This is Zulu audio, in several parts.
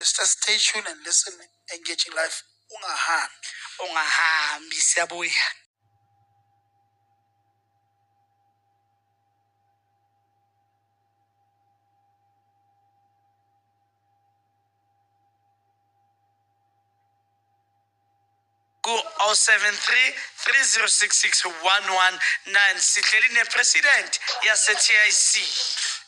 Sister stay tuned and listen engaging life ungahambi. Ungahambi siyabuya. ku-073 3066 119 sihleli nepresident yase-tic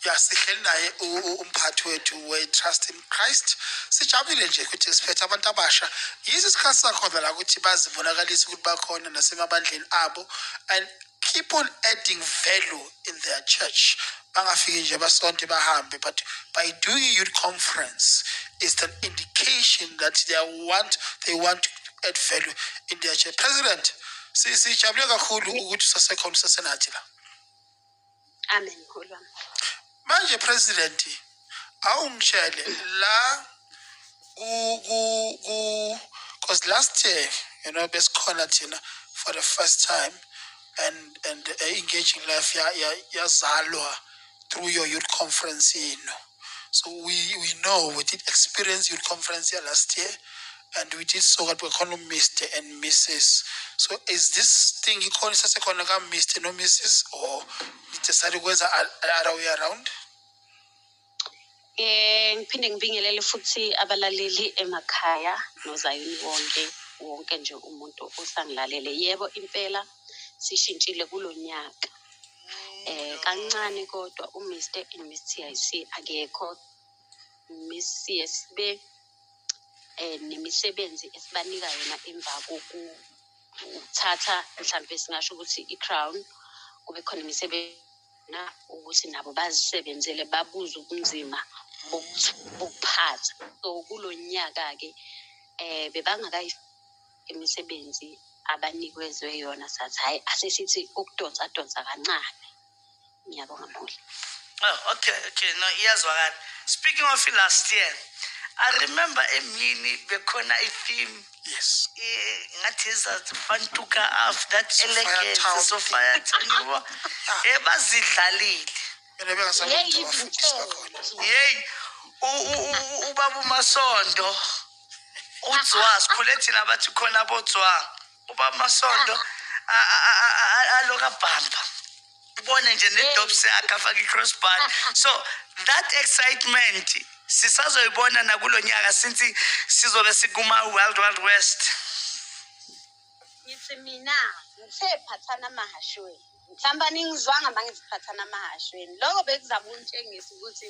ya sihleli naye u- u- umphathi wethu we-trust in christ sijabulile nje ukuthi siphethe abantu abasha yiso isikhathi sakhona la ukuthi bazibonakalise ukuthi bakhona nasemabandleni abo and keep on adding value in their church bangafiki nje basonte bahambe but by doing a youth conference is an indication that they want they want to add value in their chair president sijabule kakhulu ukuthi usasekhona usasenathi la amen manje president awu ngitshele la ku ku ku cause last year you know besikhona thina for the first time and and uh, engaging life ya ya yazalwa through your youth conference you know so we we know we did experience youth conference ya last year and we did so that we call Mr. and Mrs. So is this thing you call Mr. Mrs. or decided whether other way around? Eh ngiphinde ngibingelele futhi abalaleli emakhaya nozayini wonke wonke nje umuntu osangilalele. Yebo impela sishintshile kulo nyaka. Eh kancane kodwa uMr and Miss TIC akekho. Miss CSB eh nemisebenzi esibanika yona emva koku ukuthatha mhlambe singasho ukuthi i-crown kube khona imisebenzi na ukuthi nabo bazisebenzele babuze ubunzima bokuphatha so kulo nyaka-ke um bebangakayi imisebenzi abanikwezwe yona sathi hhayi asesithi ukudonsa donsa kancane ngiyabonga mholi Oh, okay, okay, no, iyazwakala. Speaking of last year, I remember emini bekhona i-theme yes ngathi zazifantuka after that elegance so fire town yabo ebazidlalile mina bengasamuntu wafundisa khona yeyi ubaba umasondo udzwa sikhule thina bathi khona bodzwa ubaba umasondo aloka bhamba ubone nje nedobs yakhe afake i-crossbar so that excitement sisazoyibona nakulo nyaka since sizobe sikuma-world world west ngithi mina ngithe phathana amahashweni mhlawumbe aningizwanga ma ngithi phathana amahashweni loko bekuzama untshengisa ukuthi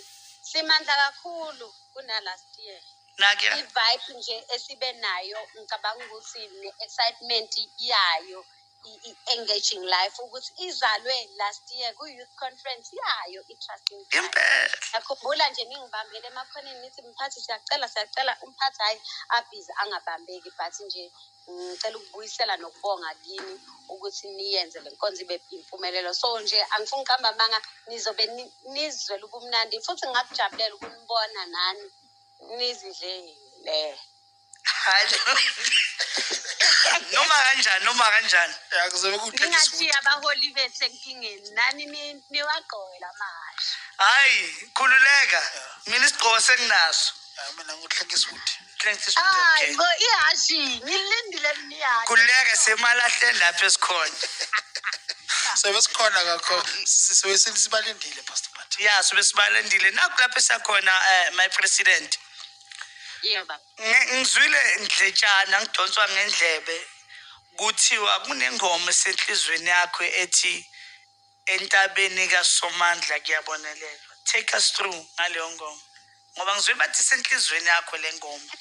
simandla kakhulu kunalast year nakuya i-vibe nje esibe nayo ngicabanga ukuthi ne-excitement yayo engaging life ukuthi izalwe last year ku-youth conference yayo i-trusting yakhumbula nje ningibambele emakhoneni nithi mphathi siyacela siyacela umphathi hhayi abhizi angabambeki but nje ngicela ukubuyisela nokubonga kini ukuthi niyenze le nkonzo ibe impumelelo so nje angifuni ukuqamba amanga nizobe nizwele ubumnandi futhi ngakujabulela ukunibona nani nizidlele noma kanjani noma kanjani ningashiya abaholi bethu enkingeni nani niwagqoke la mahhashi hhayi khululeka mina isigqoko senginaso mina nguhleke isuthi hayi bo ihhashi ngilindile mina ihhashi khululeka semalahleni lapho esikhona sobe sikhona kakho sobe sibalindile pastor ya sobe sibalindile nakho lapho esakhona um eh, my president yeba Ngi- ngizwile ndletshana ngidonswa ngendlebe kuthiwa kunengoma esenhlizweni yakho ethi entabeni kasomandla kuyabonelelwa take us through ngaleyo ngoma ngoba ngizwile bathi isenhlizweni yakho le ngoma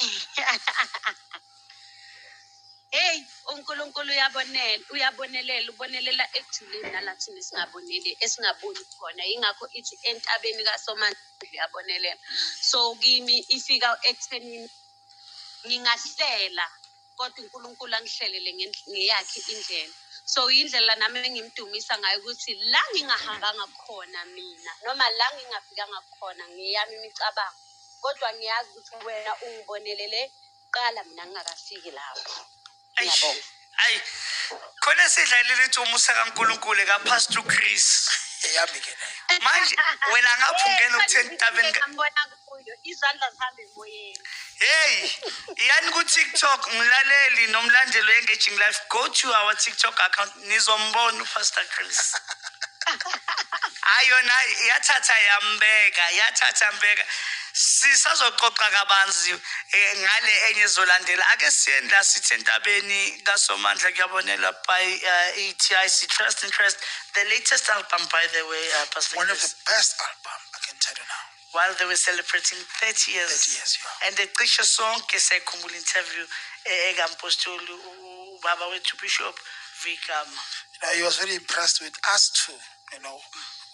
Hey uNkulunkulu uyabonela uyabonelela ubonelela ekujuleni nala thina singaboneli esingaboni khona ingakho ithi entabeni kaSomandla uyabonelela so kimi ifika ekuthenini ngingahlela kodwa uNkulunkulu angihlelele ngendl- ngeyakhe indlela so indlela nami engimdumisa ngayo ukuthi la ngingahambanga khona mina noma la ngingafikanga khona ngeyami imicabango kodwa ngiyazi ukuthi wena ungibonelele kuqala mina ngingakafiki lapho Eish, Ngiyabonga. ayi khona esidla leli cumu sakankulunkulu ekapastor chris eyami ke nayo manje wena ngapha ungena ukutheni entabeni ka- ngambona kuyo izandla zihambe emoyeni heyi yani ku-tiktok mlaleli nomlandeli we-engaging life go to our tiktok account Nizombona uPastor Chris. Hayi yona yathatha yambeka, yathatha yambeka. Sisazoxoxa kabanzi eh, ngale enye ezolandela. Ake siyeni la sithi entabeni kaSomandla kuyabonela by uh, ETIC Trust and Trust. The latest album by the way uh, Pastor One of Chris. the best album, I can tell you now. while they were celebrating 30 years, 30 years yeah. and ecishe sonke sayikhumbula interview eh, ekampostoli ubaba wethu bishop vigama he was very impressed with us too you know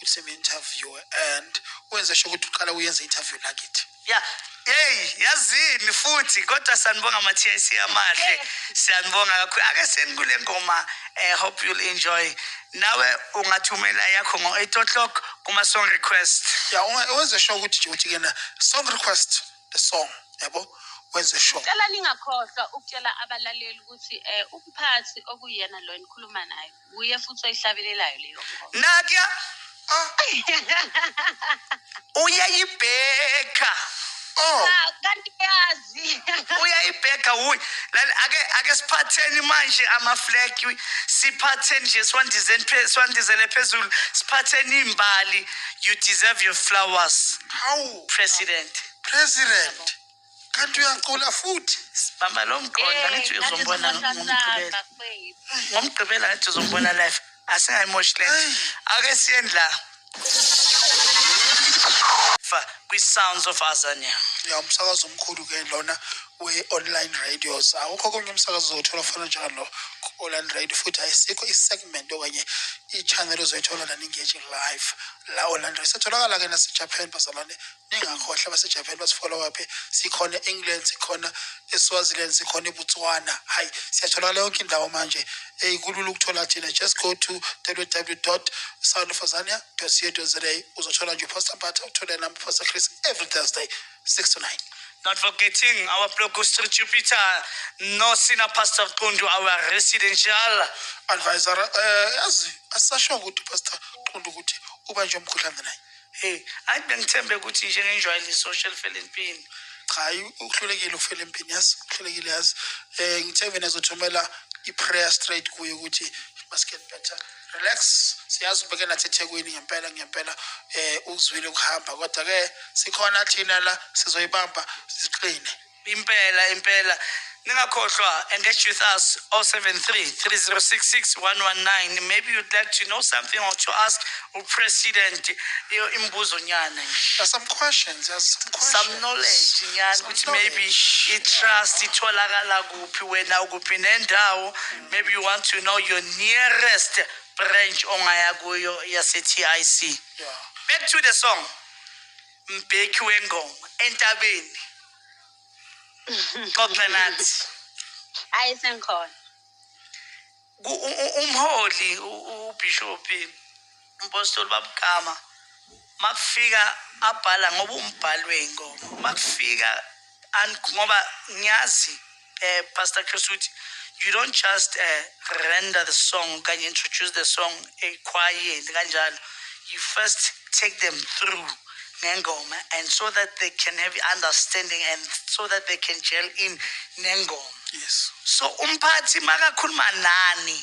ukuthi interview and wenze sho ukuthi uqala uyenza interview lakithi ya yeyi yazini futhi kodwa sanibonga ama-tic amahle siyanibonga kakhulu ake senikule ngoma um hope you'll enjoy nawe ungathumela yakho ngo-8 o'clock kuma-song request ya wenze sure ukuthi nje ukuthi kena song request the song yabo wenze sure cela ningakhohlwa ukutshela abalaleli ukuthi um umphathi okuyena lo enikhuluma naye wuye futhi oyihlabelelayo leyo nako uyayibheka oh Ah, kanti uyazi uyayibheka wuyi Lali, ake ake siphatheni manje amaflag siphatheni nje siwandizeni phe- siwandizele phezulu siphatheni imbali you deserve your flowers hawu president president kanti uyacula futhi sibamba lo mqondo angithi uyozombona ngomgqibela ngomgqibela angithi uzombona live asingayimoshi le nto ake siyeni la Fa- kwi-sounds of azania ya umsakazo omkhulu ke lona we-online radios awukho konye umsakazo ozowuthola ofana njalo ku-online radio futhi ayisikho i-segment okanye i-channel ozoyithola lana engage live la online radio setholakala-ke nasejapan bazalwane ningakhohlwa abasejapan basifola waphi sikhona e-england sikhona eswaziland sikhona ebotswana hhayi siyatholakala yonke indawo manje eyi kulula ukuthola thina just go to www soundofazania co za uzothola nje upastor mpatha uthole nami upastor chris every thursday 6 to 9 Not forgetting our Bloguster Jupiter, no sina Pastor Kundu, our residential advisor. Uh, eh, as, asasho ukuthi Pastor Kundu ukuthi ubanjwe umkhuhlane naye. Hey, hayi bengithembe ukuthi nje ngenjwayele isosha elifela empini. Cha, hayi uhlulekile ukufela empini yazi, uhlulekile yazi. Eh ngithe mina zothumela i-prayer straight kuye ukuthi must get better. Relax, siyazi ubeke nathi eThekwini ngempela ngempela eh uzwile ukuhamba kodwa ke sikhona thina la sizoyibamba siqine. impela impela ningakhohlwa engage with us 073 3066 119 maybe you'd like to know something or to ask upresident iyo imibuzo nyana nje There's some questions. There's some questions. some knowledge nyana Some ukuthi maybe knowledge. i-trust itholakala kuphi wena ukuphi nendawo maybe you want to know your nearest branch ongaya kuyo yase-tic Yeah. back to the song mbheki wengoma entabeni xoxa nathi ayi sengikhona Ku- u- u- umholi u- u- ubhishophi umpostoli babugama makufika abhala ngoba umbhali wey'ngoma makufika and ngoba ngiyazi eh, pastor chris ukuthi you don't just eh, render the song okanye introduce the song ekhwayeni kanjalo you first take them through nengoma and so that they can have understanding and so that they can gel in nengoma yes so umphathi makakhuluma nani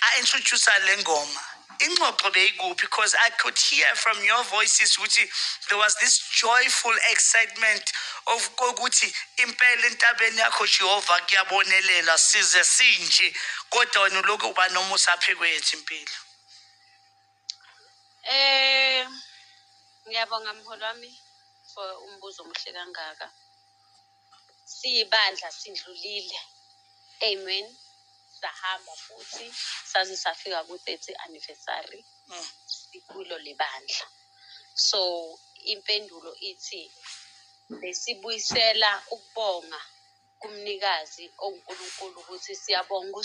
I introduce Lengoma. Ingxoxo beyikuphi because I could hear from your voices ukuthi there was this joyful excitement of kokuthi impela entabeni yakho Jehova kuyabonelela size sinje kodwa wena lokhu uba nomusa phe kwethu impilo. Eh ngiyabonga mholo wami for umbuzo omuhle kangaka. siyibandla sidlulile amen sahamba futhi saze safika ku-30 anniversary mm. sikulo lebandla so impendulo ithi besibuyisela ukubonga kumnikazi onguNkulunkulu ukuthi siyabonga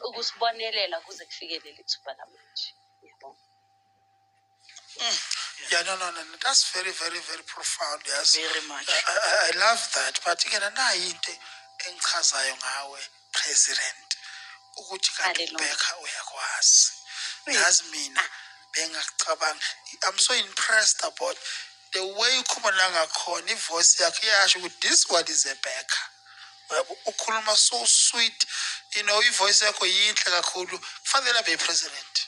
ukusibonelela kuze kufikelele ithuba lamanje. Ngiyabonga. Mm. Yeah, no, no, no, no. That's very, very, very profound. Yes. Very much. I, I, I love that. But again, nayi into engichazayo ngawe president ukuthi kanti ubhekha uyakwazi. Yazi mina bengakucabanga. I'm so impressed about the way ukhuluma la ngakhona ivoice yakhe iyasho ukuthi this one is a backer yabo ukhuluma so sweet you know ivoice yakho yinhle kakhulu kufanele abe president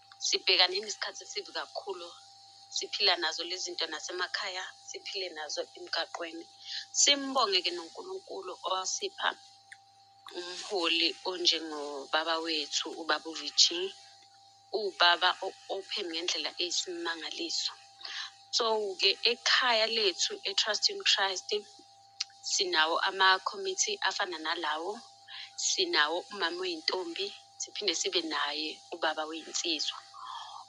Sibhekane nesikhathi esibi kakhulu. Siphila nazo lezi zinto nasemakhaya, siphile nazo emgaqweni. Simbonge-ke noNkulunkulu owasipha umholi onjengobaba wethu, ubaba uVG. Uwubaba o-open ngendlela eyisimangaliso. So-ke ekhaya lethu eTrust in Christ, sinawo amakhomithi afana nalawo, sinawo umama oyintombi, siphinde sibe naye ubaba weyinsizwa.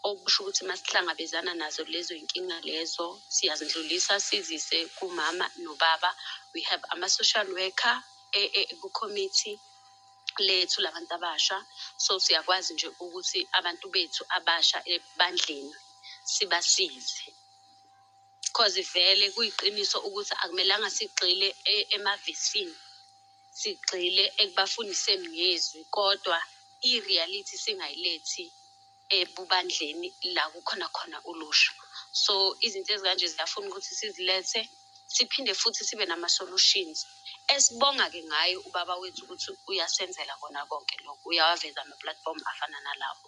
Okusho ukuthi uma sihlangabezana nazo lezo yinkinga lezo, siyazindlulisa sizise kumama nobaba. We have ama-social worker e- e- kukhomithi lethu labantu abasha, so siyakwazi nje ukuthi abantu bethu abasha ebandleni sibasize. Cause vele kuyiqiniso ukuthi akumelanga sigxile e- emavesini. Sigxile ekubafundiseni ngezwi kodwa i-reality singayilethi ebubandleni la kukhona khona ulusha. So izinto ezikanje ziyafuna ukuthi sizilethe siphinde futhi sibe nama-solutions. Esibonga-ke ngaye ubaba wethu ukuthi uyasenzela kona konke lokho, uyawaveza ama-platform afana nalawo.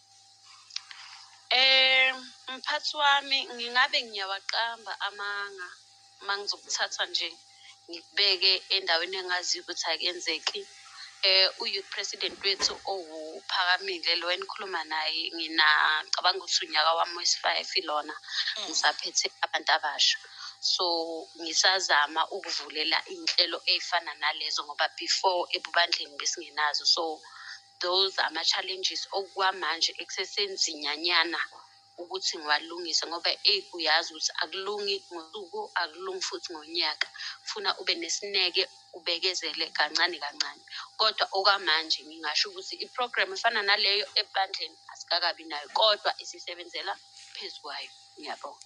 Eh mphathi wami ngingabe ngiyawaqamba amanga mangizokuthatha nje ngikubeke endaweni engaziyo ukuthi akenzeki. Eh u-youth president wethu owuPhakamile lo enikhuluma naye ngina cabanga ukuthi unyaka wami wesi-five lona ngisaphethe abantu abasha. So ngisazama ukuvulela iy'nhlelo ey'fana nalezo ngoba before ebubandleni besingenazo so. those are ama challenges okwamanje ekusesenzinyanyana ukuthi ngiwalungise ngoba eyi uyazi ukuthi akulungi ngosuku akulungi futhi ngonyaka funa ube nesineke ubekezele kancane kancane kodwa okwamanje ngingasho ukuthi i-program efana naleyo ebandleni asikakabi nayo kodwa isisebenzela phezu kwayo ngiyabonga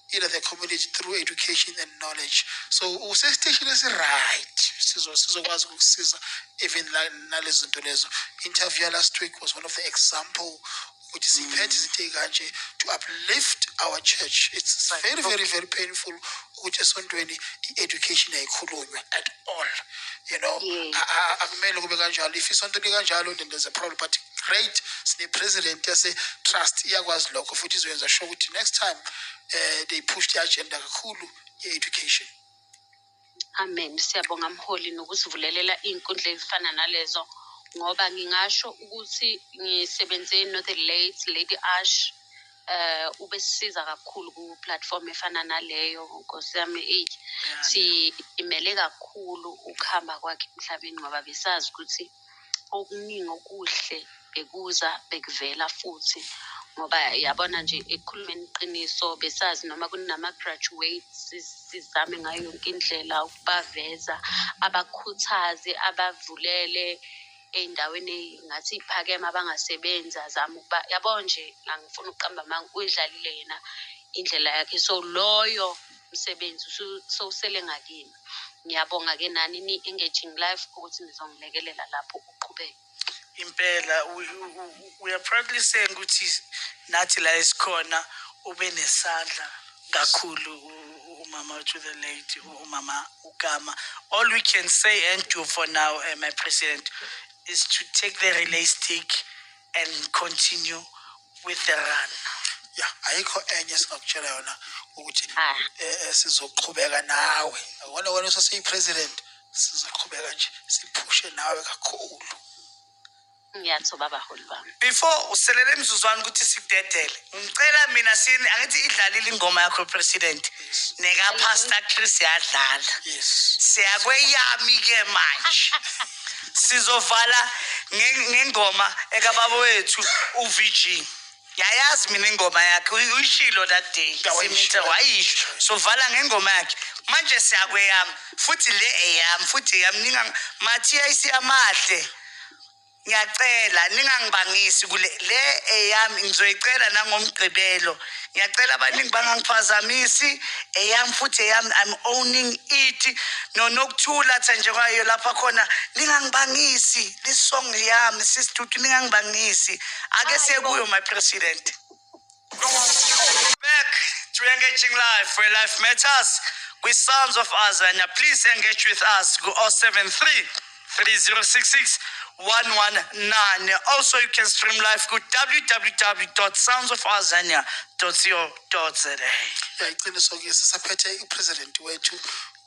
either the community through education and knowledge so usesiteshini esi-right sizokwazi ukusiza even nalezi zinto lezo interview last week was one of the example ukuthi siphethe izinto ey'kanje to uplift our church it's very very very painful ukuthi esontweni i-education ayikhulunywe at all you know Yes. a- a- akumele kube kanjalo if isonto likanjalo then there's a problem but great sine-president yase-trust iyakwazi lokho futhi izoyenza sure ukuthi next time um they push the agenda kakhulu ye-education amen siyabonga mholi nokusivulelela iy'nkundla ezifana nalezo ngoba ngingasho ukuthi ngisebenze no-the late lady ash eh ubesisiza kakhulu ku platform efana naleyo nkosi yami eyi simele kakhulu ukuhamba kwakhe emhlabeni ngoba besazi ukuthi okuningi okuhle bekuza bekuvela futhi ngoba yabona nje ekukhulumeni iqiniso besazi noma kunama-graduates si- sizame ngayo yonke indlela ukubaveza abakhuthaze abavulele ey'ndaweni ey'ngathi iy'phakeme abangasebenzi azame ukuba yabo nje angifuni ukuqamba amanga uyidlalile yena indlela yakhe so loyo msebenzi sowusele ngakini ngiyabonga-ke nani ni-engaging life ukuthi nizongilekelela lapho uqhubeke impela we are proudly saying ukuthi nathi la esikhona ube nesandla kakhulu umama to the lady umama Ugama. All we can say and do for now, uh, my president, is to take the relay stick and continue with the run. ya ayikho enye esingakutshela yona ukuthi Ah. eh, eh, sizoqhubeka nawe akona wena usesiyi-president sizoqhubeka nje siphushe nawe kakhulu ngiyathoba abaholi bami before uselele imizuzwana ukuthi sikudedele ngicela mina sini angithi idlalile ingoma yakho president neka pastor Chris yadlala yes siyakweyami ke manje sizovala ngengoma ekababa wethu uVG yayazi mina ingoma yakhe uy- uyishilo that day Ya, wayisho. simithe wayisho sovala ngengoma yakhe manje siyakweyami futhi le eyami futhi eyami ninga mathiya isiyamahle ngiyacela ningangibangisi kule le eyami ngizoyicela nangomgqibelo ngiyacela abaningi bangangiphazamisi eyami futhi eyami i'm owning it nonokuthula tha nje kwayo lapha khona ningangibangisi lisong yami sisitutu ningangibangisi ake siye kuyo my president back to engaging life where life matters We sons of azania please engage with us go 073 3066 119 also you can stream live ku www.soundsofazania.co.za yayiqiniso ke sisaphethe upresident wethu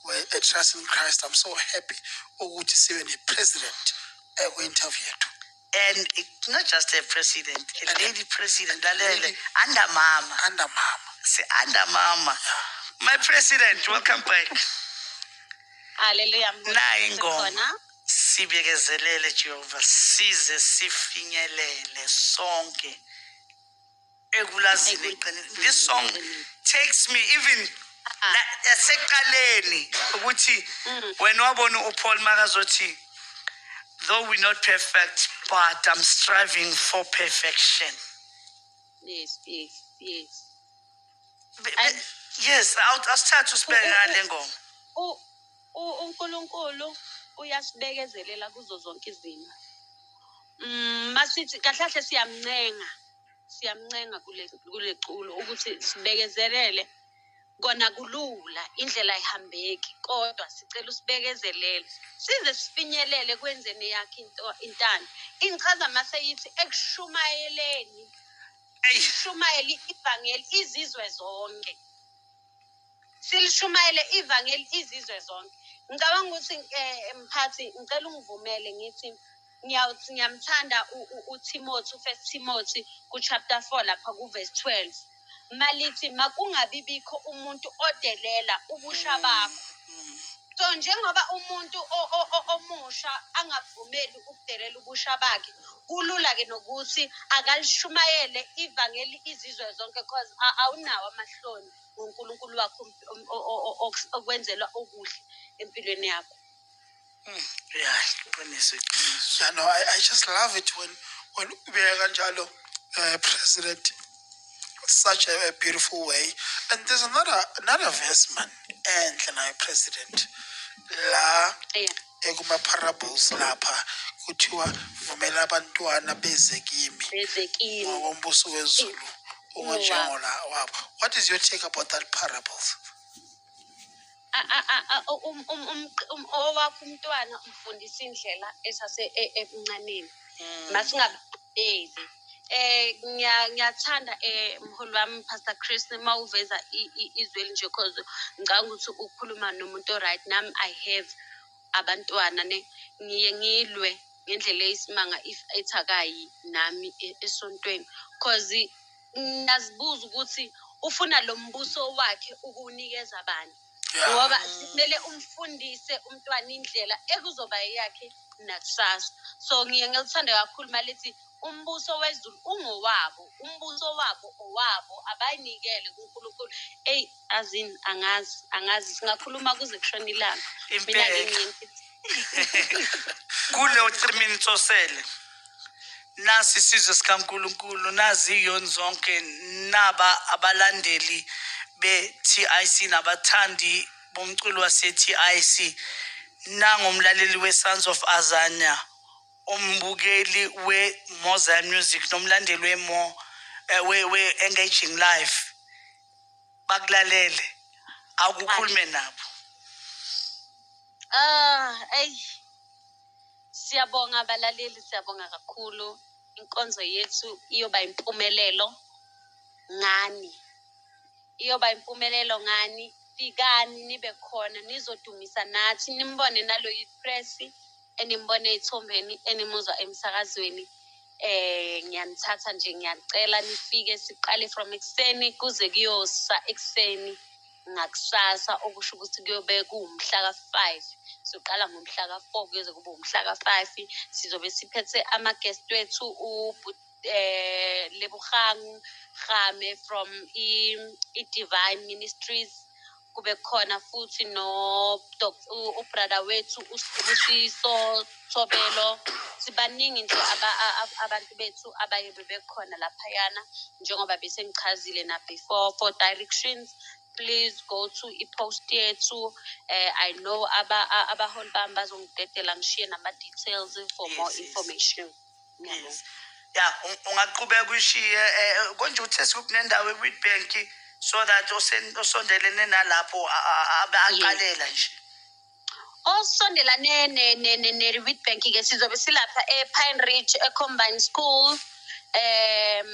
we-trust in christ i'm so happy ukuthi sibe ne-president ekwi-interview yethu and it's not just a president a And- lady president lalele Lady. under mama under mama si under mama my president welcome back Hallelujah. Nayi ingoma. Sikhona. sibekezelele jehova size sifinyelele sonke ekulazini eqinile this song takes me even ah. la- yaseqaleni ukuthi mm. wena wabona upaul makazothi though we not perfect but i'm striving for perfection yes yes yes Be- be- yes awu- asithathe usibeke ngale ngoma UNkulunkulu uyasibekezelela kuzo zonke izimo. Mm, masithi kahle kahle siyamncenga. Siyamncenga kule kule culo ukuthi sibekezelele kona kulula indlela ayihambeki kodwa sicela usibekezelele size sifinyelele kwenzeni yakhe into intando ingichaza mase yithi ekushumayeleni Eyi. ishumayele ivangeli izizwe zonke silishumayele ivangeli izizwe zonke ngicabanga ukuthi eh, mphathi ngicela ungivumele ngithi ngiyawuthi ngiyamthanda uTimothy uFirst Timothy kuchapter 4 lapha kuverse 12 malithi makungabi bikho umuntu odelela ubusha bakho so njengoba umuntu omusha angavumeli ukudelela ubusha bakhe kulula ke nokuthi akalishumayele ivangeli izizwe zonke cause awunawo amahloni ngoNkulunkulu wakho okwenzelwa okuhle empilweni yakho hmm, yeah iqiniso iqiniso no I, i just love it when when ubeka kanjalo uh, president such a, a beautiful way and there's another another verse man enhle naye president la yeah. Ekuma-parables lapha kuthiwa vumela abantwana beze kimi Beze kimi. ngokombuso wezulu ungonjengola wabo. What is your take about that parables? A- a- a- a- u- um- um- um- um- Owakho umntwana umfundisa indlela esase e- emncaneni. Masingabeli. Eh ngiya- ngiyathanda eh mholi wami Pastor Chris uma uveza i- i- izwi elinje cause ngicabanga ukuthi ukhuluma nomuntu oright nami I have abantwana ne ngiye ngilwe ngendlela eyisimanga if ethi akayi nami e- esontweni cause ngiyazibuza ukuthi ufuna lo mbuso wakhe ukuwunikeza bani Yeah. ngoba kumele umfundise umntwana indlela ekuzoba eyakhe nakusasa so ngiye ngilithande kakhulu malithi umbuso wezulu ungowabo umbuso wabo owabo abayinikele kunkulunkulu eyi azini angazi angazi singakhuluma kuze kushona ilanga mina Impela. ngincinti Kuleyo 3 minutes osele. nasi isizwe sikaNkulunkulu naziyoni zonke naba abalandeli be-TIC nabathandi bomculo wase-TIC nangomlaleli we-Sons of Azania umbukeli we-Mozart Music nomlandeli we-Mo eh, we-Engaging Life bakulalele akukhulume nabo ah eyi Siyabonga balaleli, siyabonga kakhulu. Inkonzo yethu iyoba impumelelo ngani. Iyoba impumelelo ngani. Fikani nibe khona nizodumisa nathi nimbone nalo yipress enimbona ezithombeni enimuzwa emsakazweni. Eh ngiyanithatha nje ngiyacela nifike siqale from ekuseni kuze kuyosa ekuseni. ngakusasa okusho ukuthi kuyobe kuwumhla ka-five soqala ngomhla ka-four kuyoze kube wumhla ka-five sizobe siphethe ama-guest wethu ubhuti eh Lebogang Game from i-Divine Ministries kube khona futhi no ubrother wethu usibusiso Thobelo sibaningi nje aba, a- a- abantu bethu abaye bebekhona laphayana njengoba besengichazile na before for directions please go to i-post yethu eh, i know aba- a- abaholi bami bazongidedela ngishiye nama-details for Yes, more yes. information Ngiyabonga. Yes. ya u- ungaqhubeka uyishiye um konje uthe sekukunendawo ekwidbank so that osen- osondelene nalapho a- a- abe aqalela nje osondelane ne- ne- ne- ne-witbank ke sizobe silapha e-pine ridge e-combine school um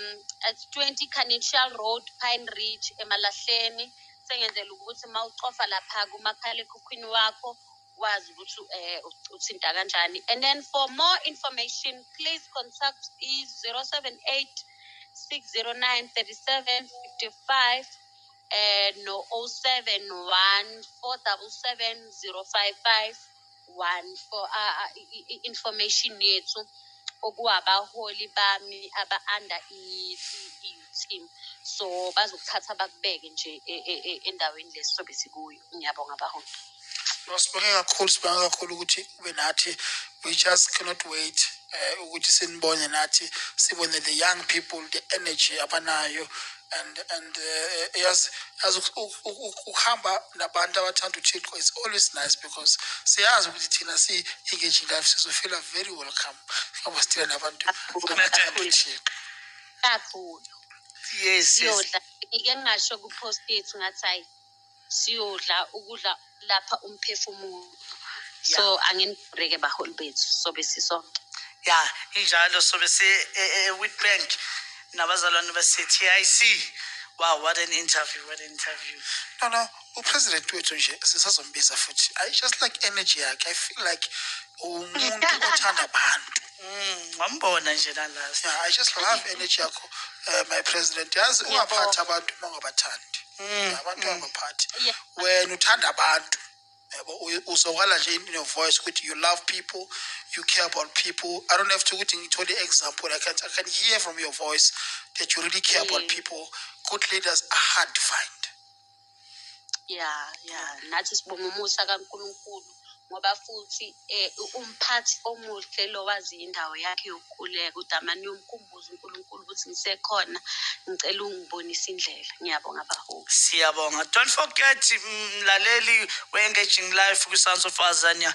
at 20 canitial road pine ridge emalahleni sengenzela ukuthi uma ucofa lapha kumakhalekhukhwini wakho wazi ukuthi um uthinta kanjani and then for more information please contact i-078 609 37 55 eh no 071 477 055 information yethu okuwabaholi bami aba under i team so bazokuthatha bakubeke nje e, e, e, endaweni lesi sobe sikuyo ngiyabonga baholi No, sibonge kakhulu sibonge kakhulu ukuthi ube nathi we just cannot wait eh ukuthi sinibone nathi sibone the young people the energy abanayo and and eh, yes as ukuhamba nabantu abathanda uThixo is always nice because siyazi ukuthi thina si engage life sizofila very welcome ngoba sithina nabantu abathanda uThixo kakhulu yes yes ngike ngasho ku post yethu ngathi siyodla ukudla lapha umphefumulo so anginibhureke baholi bethu sobe sisonke ya injalo sobe se-witbank e, e, nabazalwane base-tic wow what an interview what an interview no no upresident wethu nje sisazombiza futhi i just like energy yakhe i feel like umuntu othanda abantu Mm, wambona nje la last. Yeah, I just love energy yakho uh, my president. Yazi ungaphathi abantu uma ungabathandi. Mm, abantu mm. abaphathi. Wena uthanda abantu. uzokala nje in your voice ukuthi you love people you care about people i don't have to ukuthi ngithole i-example I can, i can hear from your voice that you really care about people good leaders are hard to find ya ya nathi sibonga umusa kaNkulunkulu ngoba futhi eh umphathi omuhle lo wazi indawo yakhe yokukhuleka udamane uyomkhumbuza uNkulunkulu ukuthi ngisekhona ngicela ungibonise indlela ngiyabonga baholi siyabonga don't forget mlaleli we-engaging life kwi-sons of azania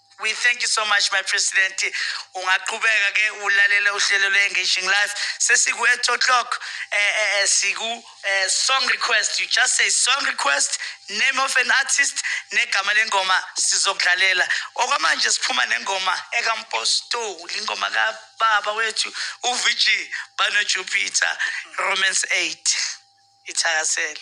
We thank you so much my president. Ungaqhubeka ke ulalele uhlelo lwe-engaging life. Sesiku-eight o'clock eh, eh, eh, siku eh, song request. You just say song request, name of an artist, negama lengoma sizokudlalela. Okwamanje siphuma nengoma ekampostoli, ingoma kababa wethu uVG Bano Jupiter, Romance 8. Ithakasele.